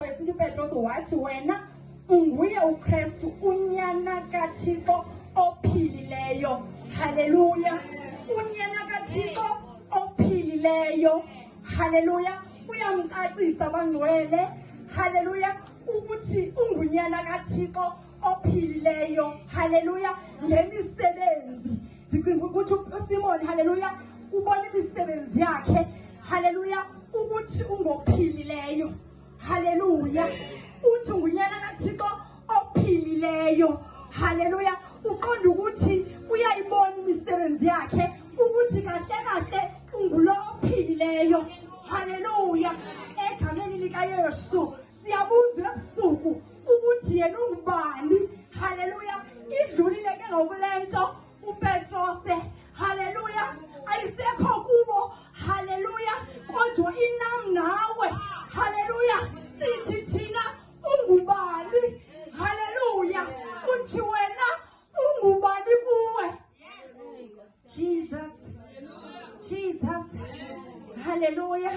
wesintu upetros wathi wena unguye ukristu unyana kathixo ophilileyo haleluya unyana kathixo ophilileyo haleluya uyamcacisa bangcwele haleluya ukuthi ungunyana kathixo ophilileyo haleluya ngemisebenzi ndicinga ukuthi usimoni haleluya ubona imisebenzi yakhe haleluya ukuthi ungophilileyo haleluya uthi ngunyana kathixo ophilileyo haleluya uqonda ukuthi uyayibona imisebenzi yakhe ukuthi kahle kahle ungulo ophilileyo haleluya egameni likayesu siyabuza ebusuku ukuthi yena ungubani haleluya idlulile ke ngokule nto upetrose haleluya ayisekho kubo haleluya kodwa inam nawe haleluya sithi thina ungubani haleluya uthi wena ungubani kuwe jesus jesus haleluya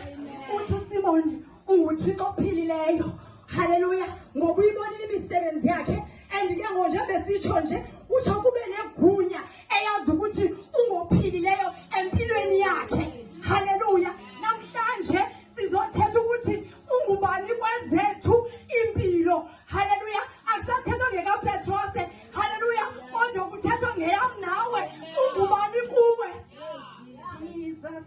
uthi usimoni unguthixo ophilileyo haleluya ngoba uyibonile imisebenzi yakhe and ke ngo njengoba sitsho nje utsho kube negunya eyazi ukuthi ungophilileyo empilweni yakhe haleluya namhlanje sizothetha ukuthi ungubani kwezethu impilo haleluya akusathethwa ngekapetrose haleluya kodwa kuthethwa ngeyam nawe ungubani kuwe jesus